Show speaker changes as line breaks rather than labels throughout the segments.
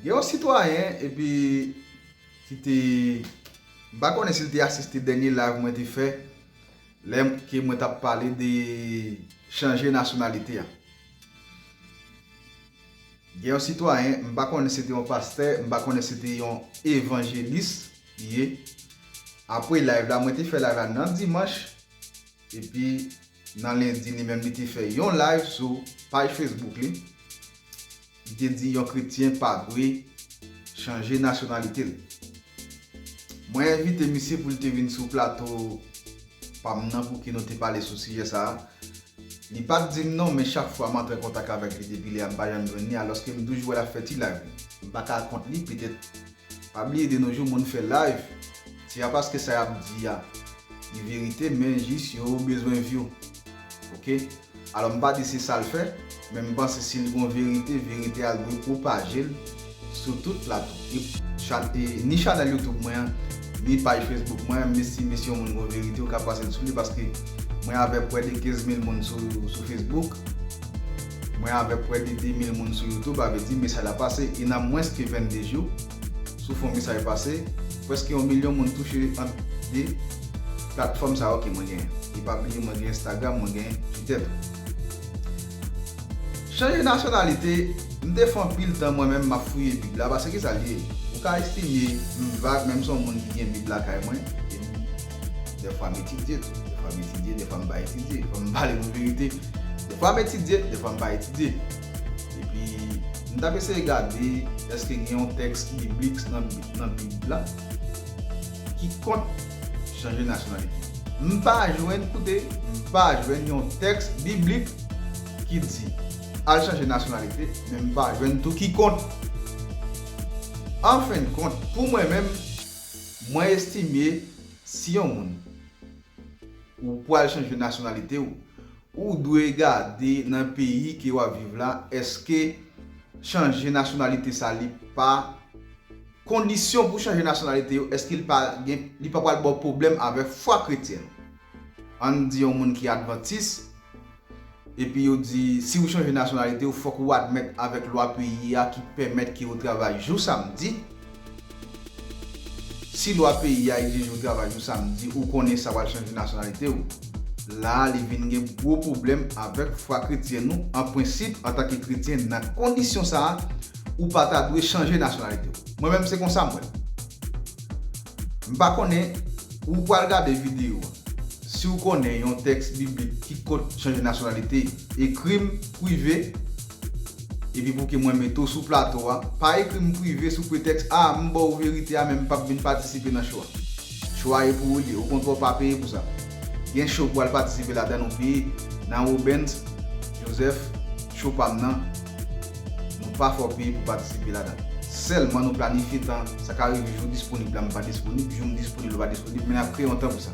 Gen yon sitwayen epi ki te, m pa konnen si l te asiste dènye live mwen te fè lè ke mwen t ap pale de chanje nasyonalite a. Gen yon sitwayen, m pa konnen si se te yon pastè, m pa konnen si se te yon evanjelis, li ye apre live la mwen te fè live la nan dimanch epi nan lendi li menm li te fè yon live sou paj Facebook li li te di yon kretyen pa dwe chanje nasyonalite l mwen envite misye pou l te vin sou plato pa m nan pouki nou te pale sou sijè sa a li pat di m non men chak fwa m antre an kontak avèk li depi lè a m pa janm jwenn li alòske m toujou wè l ap fè ti live li. M pa ka kont li petèt Pa bliye de nos jours moun fè live se ya paske sa yap di ya li verite men jis yo bezwen view ok alò mpa di se sal fè men mpanse sil gon verite verite a dwe propajel sou tout plato ni chanel youtube mwen an ni paj facebook mwen an mesi mesi yon moun gon verite ou ka pasel sou li paske mwen avè pwè de 15 mil moun sou facebook. Mwen avèk prè de 2 mil moun sou YouTube avè di mesaj la pase e nan mwens ke 22 jou sou fon mesaj pase prèske yon milyon moun touche ant 2 platfòm sa yo ke mwen genyen. E pa bliye mwen gen Instagram mwen gen Twitter tou. Chanje nasyonalite, m te fè anpil tan mwen menm map fouye bib la pase kisa l ye ou ka estime m vag men m son moun ki gen bib lakay mwen e m Dèfwa m etidye tou. Dèfwa m etidye, dèfwa m pa etidye. Fò m pale nou verite. Dèfwa m etidye, dèfwa m pa etidye. Epi, m t ap eseye gade èske gen yon tèks biblik nan Bib la ki kont chanje nasyonalite. M pa jwenn, koute, m pa jwenn yon tèks biblik ki di al chanje nasyonalite, men m pa jwenn tou ki kont. Anfennkont, pou mwen menm. Mwen estime si yon moun ou pwal chanje nasyonalite ou, ou dwe gade nan peyi ke wap viv la eske chanje nasyonalite sa li pa kondisyon pou chanje nasyonalite yo eske li pa gen li pa pwal baw pwoblèm avè fwa kretyen nou. Ann di yon moun ki advantis. Epi yo di si ou chanje nasyonalite ou fòk ou admèt avèk lwa peyi a ki pèmèt ke ou travay jou samdi. Si lwa peyi a egzije ou travay jou samdi ou konnen sa wal chanje nasyonalite ou. La a li vin gen gwo pwoblèm avèk fwa kretyen nou an prensip antanke kretyen nan kondisyon sa a ou pa ta dwe chanje nasyonalite ou. Mwen menm se konsa m wè l. M pa konnen ou pral gade videyo a. Si w konnen yon tèks biblik ki kont chanje nasyonalite, ekri m prive epi pou ke mwen mete w sou plato a. Pa ekri m prive sou pretèks a m ba w verite a men m p ap vin patisipe nan cho a. Cho a e pou ou li. Okontrè w pa peye pou sa. Gen cho ou pral patisipe ladan l ou peye. Nan Robens Joseph, Cho pa m nan. Nou pa fè w peye pou patisipe ladan. Sèlman nou planifye tan, sa ka rive jou w disponib la m pa disponib, jou m disponib la w pa disponib men n ap kreye yon tan pou sa.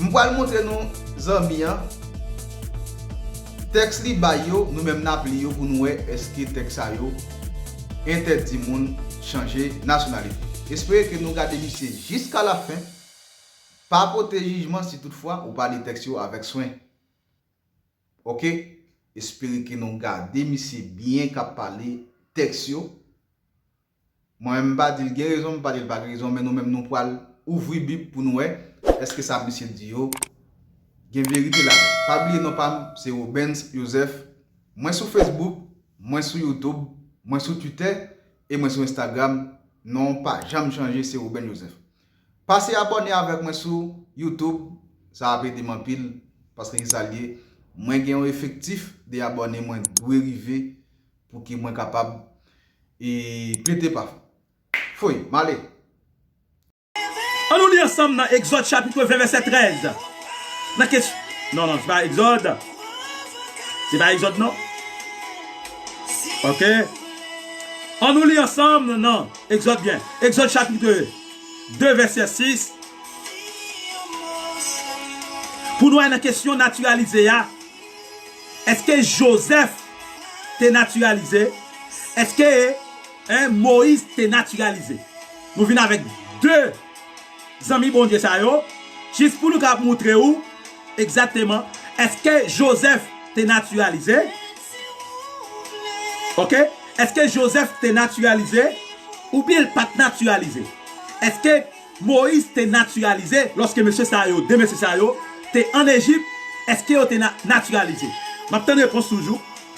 M pral montre nou zanmi an, tèks li bay yo nou menm n ap li yo pou nou wè èske tèks sa yo entèdi moun chanje nasyonalite. Espere ke nou gade misye jiska lafen, pa pote jijman si toutfwa ou pa li tèks yo avèk swen. ok espere ke nou gade misye byen kap pale tèks yo mwen menm mpa dil gen rezon mpa dil pa gen rezon men nou menm nou pwal ouvri bib pou nou wè eske sa misye di yo gen verite ladan pa bliye non pam se Robens Joseph mwen sou Facebook mwen sou YouTube mwen sou Twitter e mwen sou Instagram non pa janm chanje se Robens Joseph. Pase abòne avèk mwen sou YouTube sa ap edem anpil paske kisa liye mwen gen yon efektif de abòne mwen dwe rive pouki mwen kapab e pete pa foy male.
Annou li ansanm nan Egzòd chapitre 20 vèsè 13 nan kes non non se pa egzòd se pa egzòd non ok annou li ansanm nan. Egzòd byen. Egzòd chapitre 2 vèsè 6 Pou nou al nan kesyon natiralize a, èske Jozèf te natiralize? Èske 1 Moyiz te natiralize? Nou vin avèk 2. Zanmi Bondye sa yo, jis pou nou ka moutre ou egzakteman eske Jozèf te natiralize, ok, eske Jozèf te natiralize oubyen l pa t natiralize, eske Moyiz te natiralize lòske mesye sa yo, de mesye sa yo, te ann Ejip, eske yo te natiralize? M ap tann repons toujou.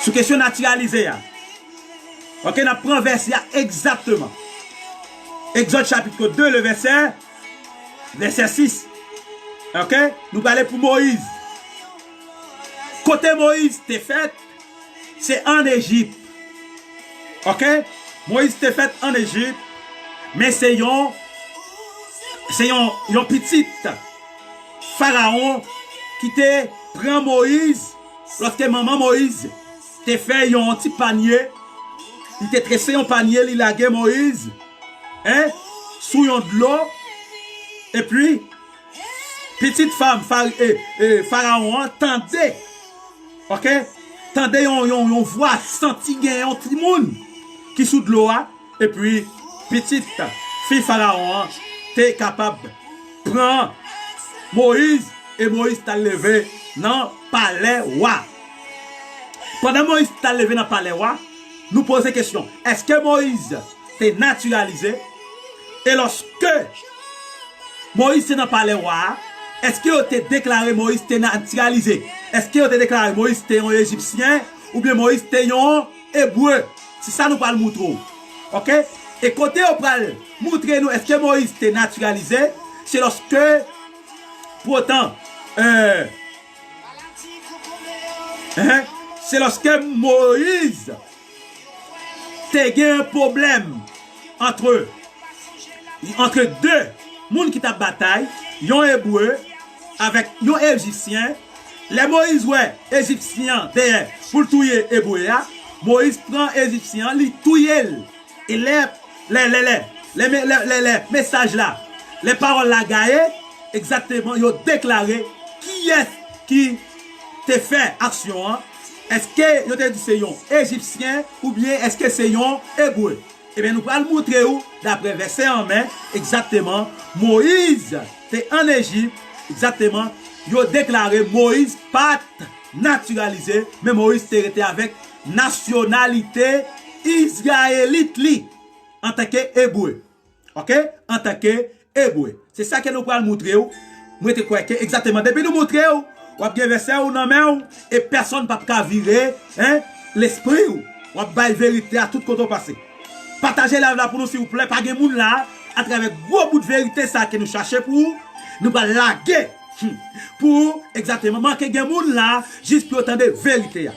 Sou kesyon natiralize a. Ok, n ap pran vèsè a egzakteman. Egzòd chapitro 2, le vèsè, vèsè 6. Ok, nou prale pou Moyiz. Kote Moyiz te fèt, se an Ejip. Ok, Moyiz te fèt an Ejip, men se yon, se yon, yon pitit. Faraon ki te pran Moïse loske manman Moïse te fè yon ti panye li te trese yon panye li lage Moïse hein sou yon dlo epi pitit fam Faraon an tande ok tande yon vwa santi gen yon timoun ki sou dlo a. Epi, pitit fi Farawon an te kapab pran Moyiz e Moyiz t al leve nan palè wa. Pandan Moyiz t al leve nan palè wa, nou poze kesyon, èske Moyiz te natiralize? E lòske Moyiz te nan palè wa a, èske yo te deklare Moyiz te natiralize? Èske yo te deklare Moyiz te yon Ejipsyen oubyen Moyiz te yon. Ebre, se sa nou pral moutre w. Ok? E kote yo pral moutre nou eske Moyiz te natiralize, se loske pwotan, eh, se loske Moyiz te gen yon pwoblèm. antre antre de moun ki t ap batay, yon Ebre avèk yon Ejipsyen. Lè Moyiz wè Ejipsyen an dèyè pou l touye Ebre a, Moyiz pran Ejipsyen an, li touye l. E lè lè lè lè lè lè mesaj la, lè pawòl la gaye, egzakteman yo deklare kiyès ki te fè aksyon an. Eske yo te di se yon Ejipsyen oubyen eske se yon Ebre? Ebyen nou pral moutre ou daprè vèsè an men egzakteman Moyiz te an Ejip egzakteman yo deklare Moyiz pat natiralize men Moyiz te rete avèk nasyonalite izrayelit li antanke Ebre. Ok antanke Ebre. Se sa ke nou pral moutre ou, mwen te kwè ke egzateman depi nou moutre ou, wap gen vèsè ou nan men ou e pèsonn pap ka vire hein lespri ou, wap bay verite a tout kote ou pase. Pataje live la pou nou silvouplè, pa gen moun la atravè gwo bout verite sa ke nou chache pou ou, nou pral lage humm pou ou egzateman, manke gen moun la jis pou yo tande verite a.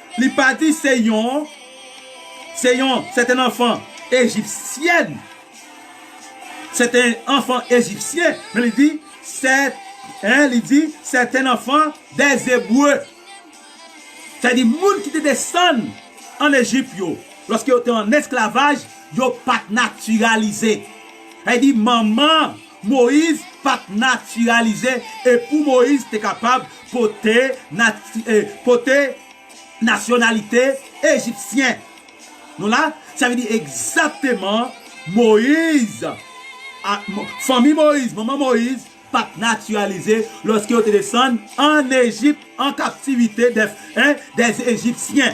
Li pati se yon se yon sèten anfan ejipsyèn, sèten anfan ejipsyen, men li di sè, en, li di sèten anfan dè Ebre, sa di moun ki te desann ann Ejip yo, lòske yo te ann esklavaj, yo pa t natiralize, sa di manman. Moyiz pa t natiralize e pou Moyiz te kapab pote pote nasyonalite ejipsyen. Nou la? Sa vle di egzakteman Moyiz fanmi Moyiz, manman Moyiz pa t natiralize lòske yo te desann ann Ejip an kaptivite dè dè ejipsyen.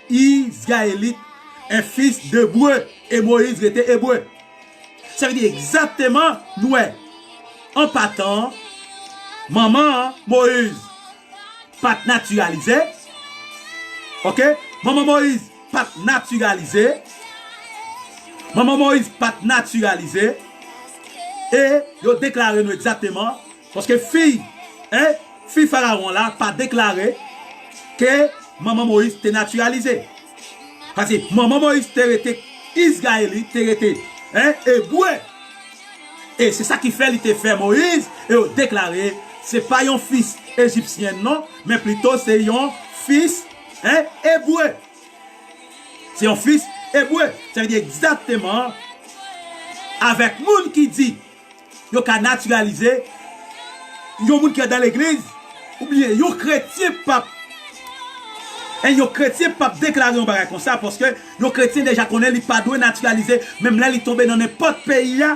Israélite est fils de breu e Moïse rete ebre. Sa vle di egzakteman nou wè an patan manman Moïse pa t natiralize ok manman Moïse pa t natiralize manman Moïse pa t natiralize e yo deklare nou egzakteman Paske fi e fi Fararon la pa deklare ke manman Moïse te natiralize. Pase manman Moïse te rete Izrayelit, te rete e Ebre. E se sa ki fè li te fè Moïse e yo deklare se pa yon fis Ejipsyen non, men plito se yon fis e Ebre. Se yon fis Ebre. Sa vle di egzakteman avèk moun ki di. Yo ka natiralize yon moun ki andan legliz oubyen yon kretyen pap en yon kretyen pap deklare yon bagay konsa paske yon kretyen deja konnen li pa dwe natiralize menm lè li tonbe nan nenpòt peyi a